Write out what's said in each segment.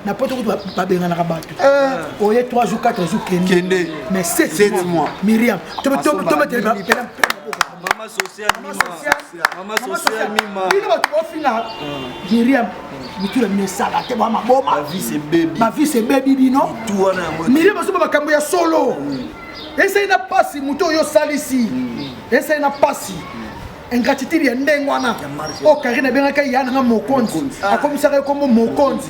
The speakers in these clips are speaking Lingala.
na poto kutu babenganaka bato eh. oye 3 jours 4 jours kende mais 7 mois miriam tobetelebino bato bofina miriam mitu na bino esala te bwa maboma bavise ebebi bino miriam azoba makambo ya solo mm. esali na mpasi moto oyo osalisi mm. esali na mpasi ingratitude ya ndenge wana oyo karine abengaka ya nanga mokonzi ah. akomisaka ye kombo mokonzi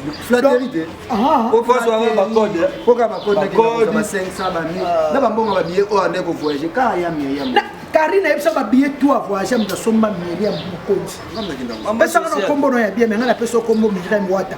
karine ayebisa babiye to avoyage moto asomba miri ya mokonzi pesaka na kombo no ya bia me ngai napesa kombo miriam wata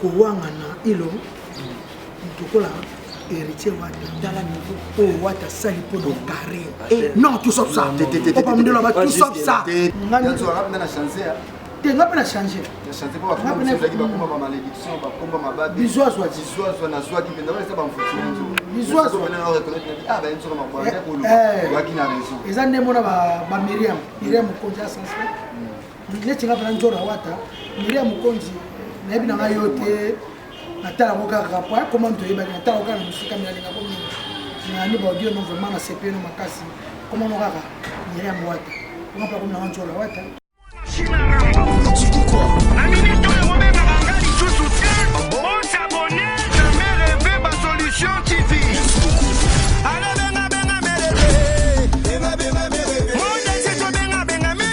kowangana ilo moto lokola héritier wata tala niveau oyo oh, wata asali mpo na carré eh, non tout sauf ça opamundelo ba tout sauf ça te nga mpe na change bizu azwa eza ndembo na bamiriam miriam mokonzi ya sanse neti nga pena njora wata miria mokonzi nayebi na ngai yo te natala yango kaka po akoma moto oyebaki natala yango kaka na mosika mialinga ko mingi nani baudio no vraiment na sepe no makasi komano kaka miria mowata nga mpe akomi na ngai njora wata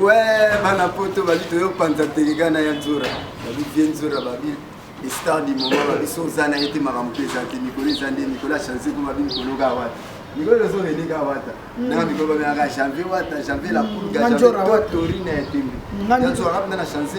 we bana poto babi toyopanza teleka na ya nzora babi vie nzora babi star du moment babi so oza na ye te makambo mpe eza te mikolo eza nde mikolo ya chanse mpo babi mikolo ka wata mikolo elozo rene ka wata hmm. nanga mikolo babengaka janvier wata janvier la hmm. pulga janvier totori na ya tembe ya nzora kapenda na chanse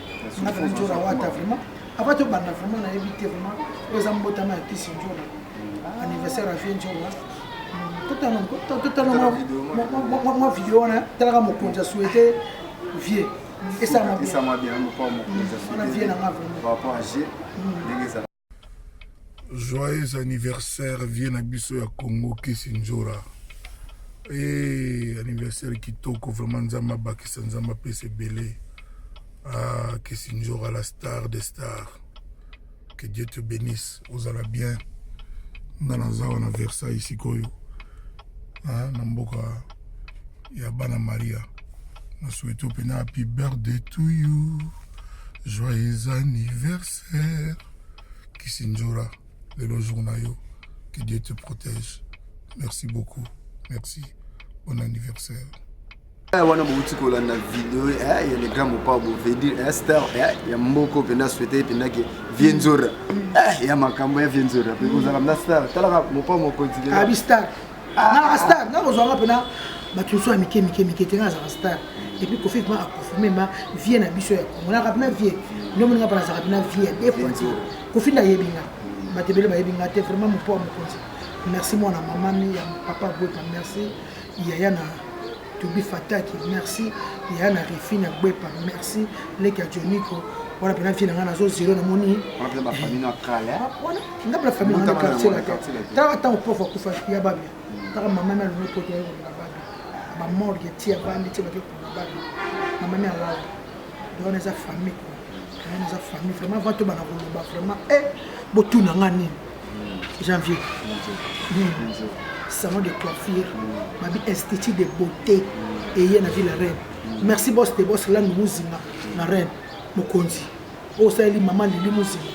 nga vraiment nzola wata vraiment avant tobanda vraiment nayebi te vraiment oyo eza mbotama ya kisi nzola mm. anniversaire ya vie nzola totala mwa video wana talaka mokonzi ya souete vie esamabien na nga vraiment Joyeux anniversaire vie na biso ya Congo Kisi Njora. Eh, anniversaire kitoko vraiment Nzambe abakisa Nzambe apesa ebele. Ah, Kisi Njora la star des stars. Que Dieu te bénisse. Ozala bien. Nga naza wana Versailles sikoyo. Ah, na mboka ya bana maria na souhaite mpena happy birthday to you joyeux anniversaire kisinjora lelo jour na yo que dieu te protège merci beaucoup merci bon anniversaire eh, wana bouti kolanda video ya eh, le grand mopao bovedir eh, star ya mboko mpenza souhaite mpenza ke vie nzora ya makambo ya vie nzora mpe kozala mna star talaka mopao mokonzi abi star nalaka ah, star nga kozwanga mpena bato nyonso ya mike mike mike te nga azalaka star epuis kofi ma aconfirme ma vie na biso ya kongo nalaka mpena vie nde moninga mpa nazalaka mpena vie ya de fois te kofi nayebi nga bato ebele bayebi nga te vraiment mopo ya mokonzi merci mwana mama mi ya papa boyka merci yaya na Tobi Fataki merci ya na refi na gbepa merci leki ya Joniko wana pena vie na ngai nazo zero namoni wana ba famille na kala wana nga ba famille na quartier la tala tango prof akufa ya babia tala mama na lomo poto ya na babia ba morgue tia bandi tia bake kuna babia mama na lawa donc eza famille quoi eza famille vraiment va to bana koloba vraiment eh botuna nga nini janvier salon de coiffure babi institut de beauté eye na ville reine merci bos de bos landu muzinga na reine mokonzi oyo osaleli mama lili muzinga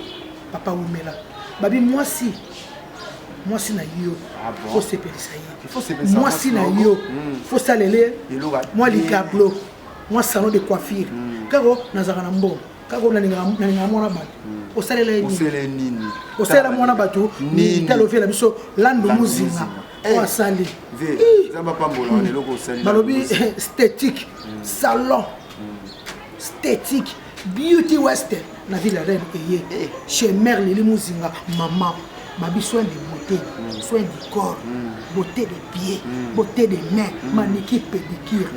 papa wumela babi mwasi mwasi na yo ah fosepelisa ye mwasi na yo hmm. fosalele mwa likablo mwa salon de coiffure hmm. kaka nazalaka na mbongo kaka oyo nalingaka mwana bato hmm. osalela ye nini osalela mwana bato nini talofela biso lando mozinga oyo eh. asali hmm. balobi eh, statique hmm. salon statique beauty west na ville ya reine eye eh. chez mare lili mozinga mama babi soin de beauté soin du corps beauté de pied beauté de main maniki pédicure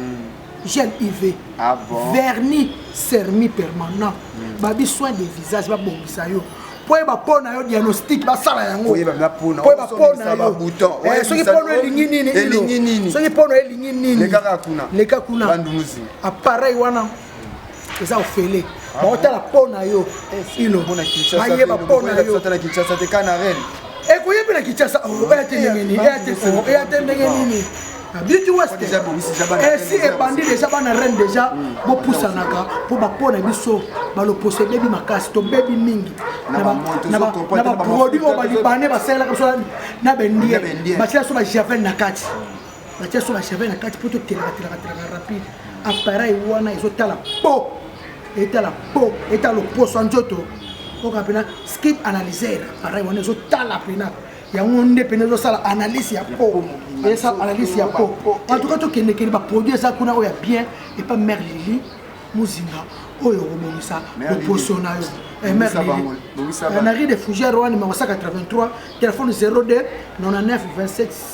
gel uv ah bon? vernis sermi permanent mm. babi soin de visage babongisa yo mpo yeba mpo na yo diagnostic basala yango mpo yeba mpo na yo soki mpo na elingi nini elingi nini soki mpo na elingi nini leka kuna leka kuna appareil wana eza ofele ah baotala mpo na yo eh, ilo bayeba mpo na yo ekoye mpe na kinshasa oya te ndenge nini eya te solo eya te ndenge nini beauty west esi ebandi deja bana reine deja bopusanaka mpo bapona biso baloposo ebebi makasi tobebi mingi na baproduit oyo balibane basalelaka biso na bendie batyela biso bajavel na kati batia so bachapele na kati mpo totelakatelakatelaka rapide appareil wana ezotala po etala po etala loposo ya nzoto oka mpena skip analyser appareil wana ezotala mpena yango nde mpena ezosala analyse ya po esala analyse ya po en tout cas tokendekende baproduit eza kuna oyo ya bien epa mare lili mozinga oyo okobongisa loposo na yo eh, eh, na ri de fougère wana makosaka 83 telefone 02 99 27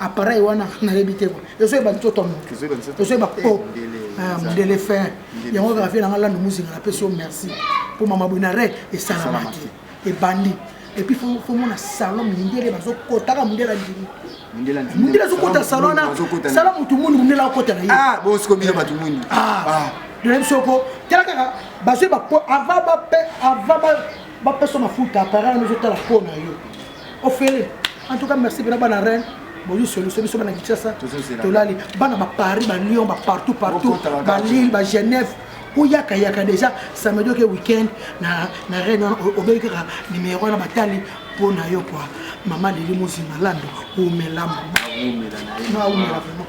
appareil wana nayebi te ezoyeba nzoto ya moto ezoyeba po mondele fin yango kaka vie nanga lando muzinga napesi yo merci mpo mama boye na re esalamaki ebandi epuis fomona salon mindele bazokotaka mondele andimi mondele azokota salon wana sala motu mwindu mondele akota na yebosikombino bato mwindu doyebi soko tala kaka bazwi avant bapesa mafuta appareil wana ezotala mpo na yo ofele en tout cas merci bino bana reine boyi solution biso bana kinshasa tolali bana ba paris ba lyon ba partout partout ba lille ba genève oyakayaka déjà samedi oke week-end na, na reine wana obeyi kaka nimero wana batali mpo na yo kua mama lili mozima lando omela maumela vraiment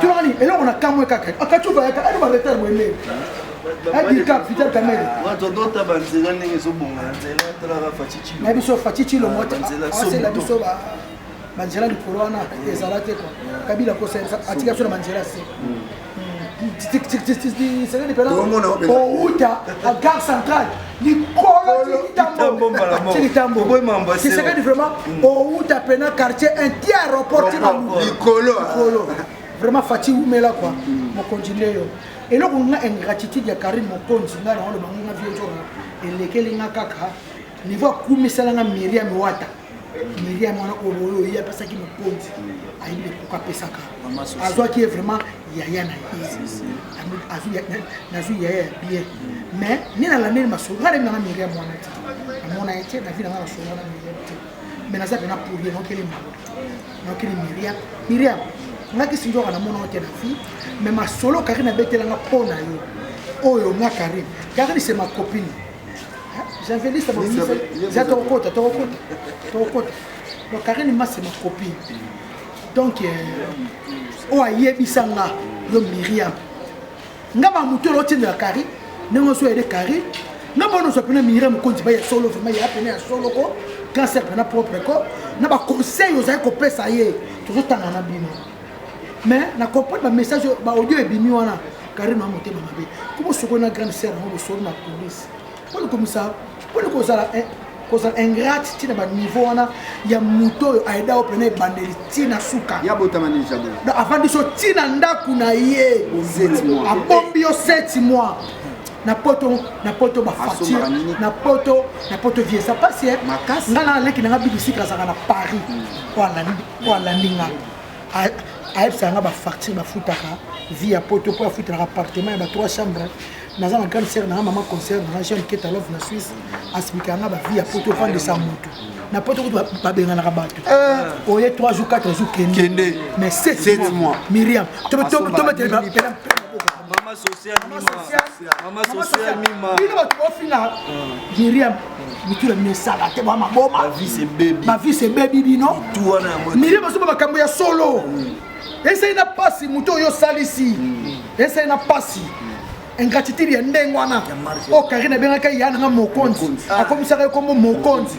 tunani eloko na kamwe kaka akacuka yaka ali baretard boyemei adika vital kamere na biso faci cilongo asela biso banzela likolo wana ezala te kua kabila kosa atika biso na banzela se sekedi pela outa a gare centrale likoloisekedi vraiment mm. owuta pena quartier inti aéroport likolo vraiment fati wumela kua mm. mokonzi nde yo eloko nga ingratitude ya karine mokonzi nga naoloba nga vieux elekeli nga kaka niveau akumisala nga miriam wata meli ya mwana oyo oyo ye apesaki mokonzi ayebi lekuka apesaka azwaki ye vraiment yaya na ye nazwi yaya ya bien mais nde nalandeli masolo ngai nayebi nanga meli ya mwana te namona ye te na vi nanga nasolo wana meli ya te mais naza pena pour ye naokeli mwana naokeli miria miria nga kisi nzoka namona yo te na vie mais masolo karine abetelanga mpo na yo oyo nga karine karine se ma copine javeliste abomisa ja tokokota tokokota tokokota donc karine masi ma copine donc euh, oyo ayebisa nga yo miriam nga ba moto elo otyendela kari ndenge oso yede kari nga bona ozwa mpena miriam mokonzi ba ya solo vraimen ya mpena ya solo ko cancer mpena propre ko na baconseil ozali kopesa ye tozotanga na bino mais na comprendre ba message ba audio ebimi wana Karine na motema mabe kubo soko na grande sœur ngo soko na police pole komisa pole kozala eh, kozala ingrate ti na ba niveau wana ya moto oyo aida oyo pena ebandeli ti na suka ya botama ni jabo donc avandi so ti na ndako na ye abombi yo 7 mois na poto na poto bafacture na poto na poto viesa pasi eh. nga na leki na nga bibisika azalaka na paris hmm. oyo alandi po alandi nga ayebisaka nga bafacture bafutaka vie ya poto po afutelaka appartement ya ba trois chambre naza na grande sere nanga mama concert nanga jeune keta love na suisse asibikaka nga bavie ya poto ofandisa motu na poto kutu babenganaka bato eh. oye 3 jours 4 jours kende mais 7 mois miriam tobetela Mama social mima. Mama social mima. Bino bato bofina Miriam. Mitu na bino esala te bwa maboma. Ma vie c'est baby. Ma vie c'est baby bino. Mitu wana yango. Miriam azoba makambo ya solo. Mm. Esali na pasi moto oyo osalisi. Mm. Esali na pasi. ingratitude ya ndenge wana oyo oh, karine abengaki ya nanga mokonzi ah. akomisaka ye kombo mokonzi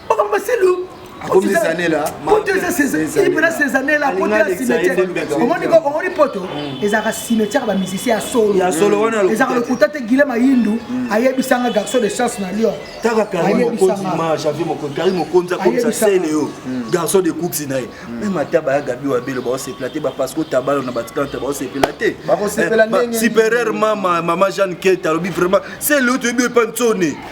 makambo masilu poto eza mpena sezanela poto ya cimetière omoni ko omoni poto ezalaka cimetière ba musicien ya solo ezalaka lokuta te gile mayindu ayebisanga garçon de chance na lyon garçon de coups na ye meme ata baya gabi wabelo baosepela te bapasco tabalo na batikanta baosepela te superieur mama mama jeanne kete alobi vraiment se leo toyebi epa nsone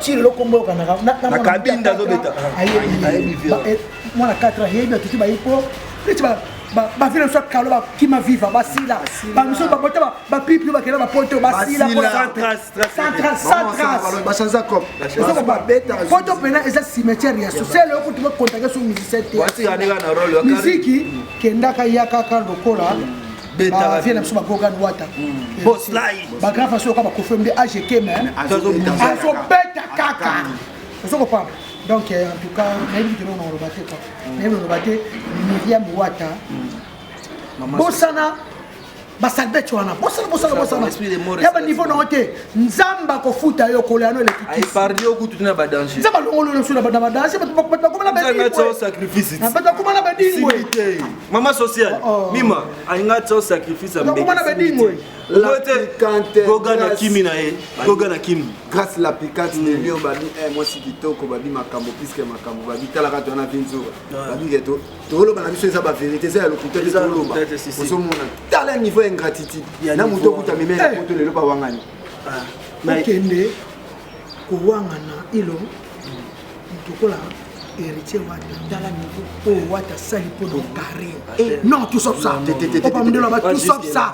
ti lelo kombo yokanaka na kabinda azobeta ayebi mwana 4 ayebi atuti bayi po neti bavile mosu akalo bakima viva basila bamisu babota bapipi bakenda bapoto basilapoto mpena eza cimetière ya social oyo kutu bakontake so musicien te miziki kendaka yakaka lokola ba vie na biso ba gogan wata hmm. boss live ba grand façon ka ba kofem de age keme azo beta kaka ozo ko papa donc euh, en tout cas nayebi kilo na oloba te quoi hmm. nayebi oloba te Miriam Wata hmm. bosana basalbete wana bosala bosala bosala ya baniveau nango te nzambe akofuta yo kola yano elekitisinzambe alongololo biso na badanse bato bakoma na badinbato bakoma na badingwe Mama social, oh, oh. Mima, alinga tso sacrifice ya mbeki. Nakomana bedingo. Lote Goga na Kimi na ye. Goga na Kimi. Grâce la piquante de Lyon babi eh moi si kitoko babi makambo puisque makambo babi talaka to na vinzo. Babi geto. To lo bana biso eza ba vérité eza ya lokuta te to lo ba. Ozo mona tala niveau ingratitude. Na moto okuta meme na poto lelo ba wangani. Ah. Nakende kowangana ilo Tokola héritier wata tala niveau oyo wata asali mpo na carré eh, non tout sauf ça oba mundele aloba tout sauf ça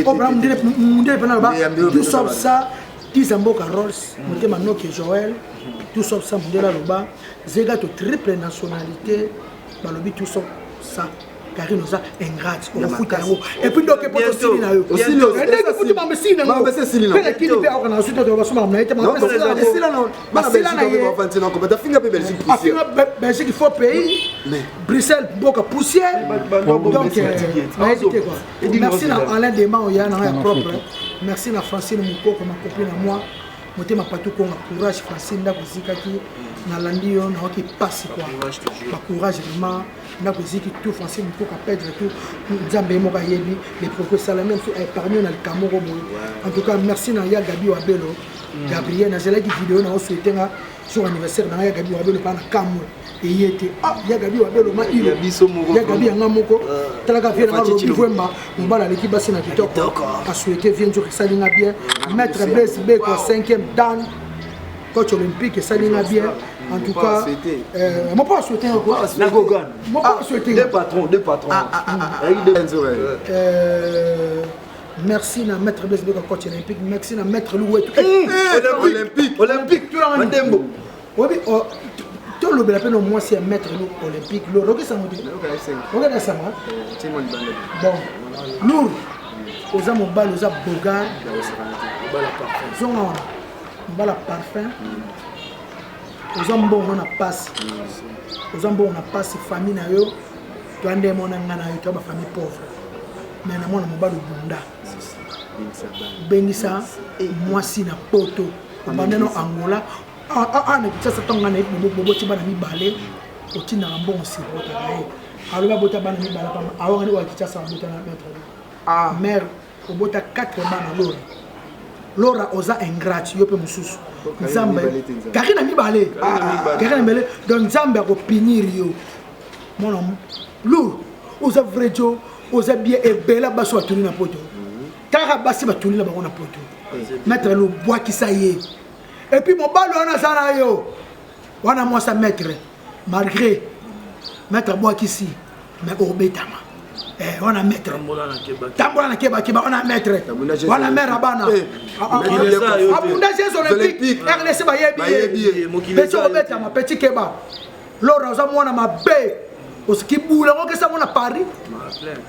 oba mundele mundele mpe naloba tout sauf ça tiza mboka rolls mm. motema noke joel tout sauf ça mundele aloba zega to triple nationalité balobi tout son ça karine oza ingrate okofuta yango epuis ndoke poto osili na yo ndenge futi mambo esili na yango mpe na kini mpe aoka na suta basuma na ye te basila na yeafinga belgique faux pays bruxelles mboka poussière donc nayebi te kua merci na alain dema oya na nga ya propre merci na francine mokoko makopi na moi motema patu konga courage français ndako ezikaki nalandi yo nayoki mpasi kwa bacourage vraiment ndako eziki tout français mikoka pedre tout nzambe ye moko ayebi mais proko esalami mosu epargne yo na likambo moko boye en tout cas merci na ya gabi wabelo mm. gabriel nazalaki video na oswetenga sur anniversaire na ya Gabi Wabelo pa na kamwe eye te ah ya Gabi Wabelo ma ilo ya Gabi yanga moko ah, talaka vie na Robi Vwemba mobala aleki basi na kitoko a souhaiter vie nzuri sali nga bien ah, maître Blaise Beko 5e dan coach olympique esali nga bien en tout cas euh, mon pas souhaité encore hein, la gogan mon pas ah, souhaité deux patrons deux patrons ah ah ah, ah, ah. Euh, Merci na maître Blaise Beka coach olympique. Merci na maître Louetou. Eh, eh, eh, olympique, olympique. Mandembo. Obi oh, to lobela pe no mwasi ya maître Lou olympique. Lo roki sango te. Oka na sango. Timo libanda. Bon. Lour. Oza mobali, oza bogar. Mobala parfum. Zonga wana. Mobala parfum. Oza mbongo na pasi. Oza mbongo na pasi famille na yo. Toi nde mona nga na yo toi ba famille pauvre. Mais na mona mobali obunda. Bengisa mwasi na poto. Obanda no Angola. Ah ah ah na Kinshasa tonga na bobo bobo ti bana mibale. Otindaka mbongo sirwa kaka ye. Aloba bota bana mibale pamba. Awa ngani wa Kinshasa bota na maître. Ah mère obota 4 bana lora lora oza ingrate yo mpe mosusu nzambe kaki na mibale kaki na mibale donc nzambe akopinir yo mwana lur oza vrai jo oza bien ebela basi batuli na poto kaka basi batuli na bango na poto maître lobwakisa ye epuis mobali wana aza na yo wana mwasa maître malgré maître abwakisi mais obetama eh, wana maître tambola na kebakeba wana maître wana maire ya bana eh, ah, ah, ah. abunda jeux olympique rdc bayebi ye peti obetama peti keba lora oza mwana mabe osiki bula yango kesa yango na paris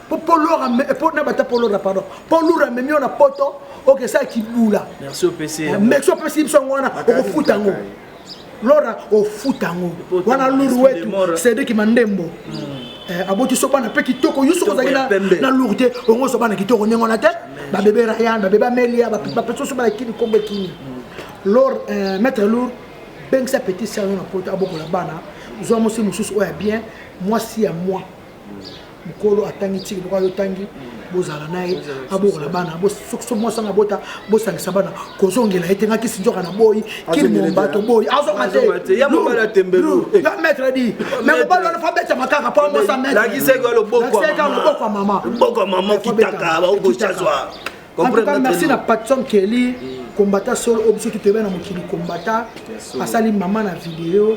po lora po na bata po lora pardon po lora amemi yo na poto okesa kibula merci opesi biso yango wana okofuta yango lora ofuta yango wana luru wetu cedriki mandembo mm. eh, aboti so bana mpe kitoko yo soki ozalaki na luru te ongo ozwa bana kitoko ndenge wana te babebe rayan babebe amelia bapesoso bana kini kombo ekini mm. lor eh, maître lour bengisa petit sere na poto abokola bana zwa mwasi mosusu oyo ya bien mwasi ya moi mokolo atangi tiki lokola yo otangi bozala na ye abokola bana soki mwasi anga bota bosangisa bana kozongela ye te nga kisi nzoka na boyi kili momba toboyi azonga te ya mobali atembelu ya maître di me mobali wana fa betama kaka po amosa maîtrelakiseka loboko ya mama loboko ya mama okitaka baokochazwa en tout cas merci na patson kelly kombata solo oyo biso tutoyeba na mokili kombata asali mama na video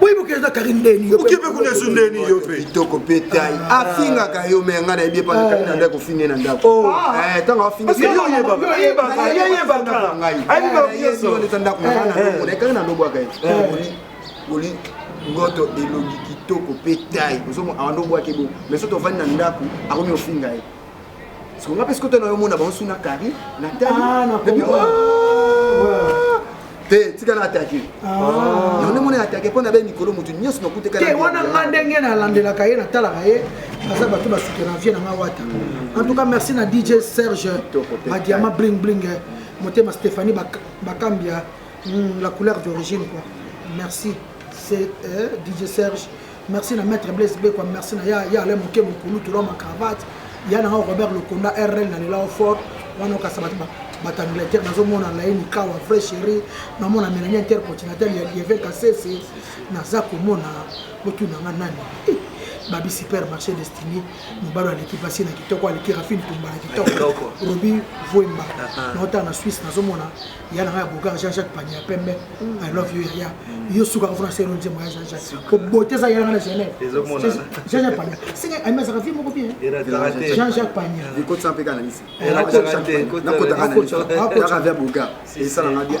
boyiboka eza kari ndeni okepe kuna esu ndeni yo mpe kitoko mpe tai afingaka yo me ngai nayebi epa nakati na ndako ofingi na ndako ntango afingayeyebakaayebibakaayebibakaayebibaka ndako na ngai nalobwaka ye boli ngoto elongi kitoko mpe tai ozomona awa ndobwaki bo me soki tovandi na ndako akomi ofinga ye Siko nga pesi kota na yo mona bango suna kari na tali ah, na bi oh! te tika na atake ah. yango nde mona atake mpo na be mikolo motu nyonso nakuteka te wana nga ndenge nalandelaka ye natalaka ye baza bato basuki na vie na nga wata en tout cas merci na dj serge badiama bling bling eh. motema stéphanie bakambia hmm, la couleur d'origine quoi merci c'est eh, dj serge Merci na maître Blaise Beko, merci na ya ya Alain Moke Mukulu tula ma cravate. Ya na Robert Lokonda RL na lela fort. Wana okasa bato bato Angleterre nazomona Laini Kawa vrai chéri, namona Melanie intercontinentale ya Lieve Kasese, naza komona botuna nga nani. Eh, babi supermarché destiné mobalo aleki mpasi na kitoko aleki rafine tumba na kitoko robi vuemba naotala na suisse nazomona ya nanga ya bogar jean jacques pania pembe i love you yaya yo suka kofona selo nzembo ya jean jacques obote eza yanga na genève jean jacques pania singa ami azaka vie moko bien jean jacques pania ekotisa mpe kananisi nakotaka via bogar esalanga bien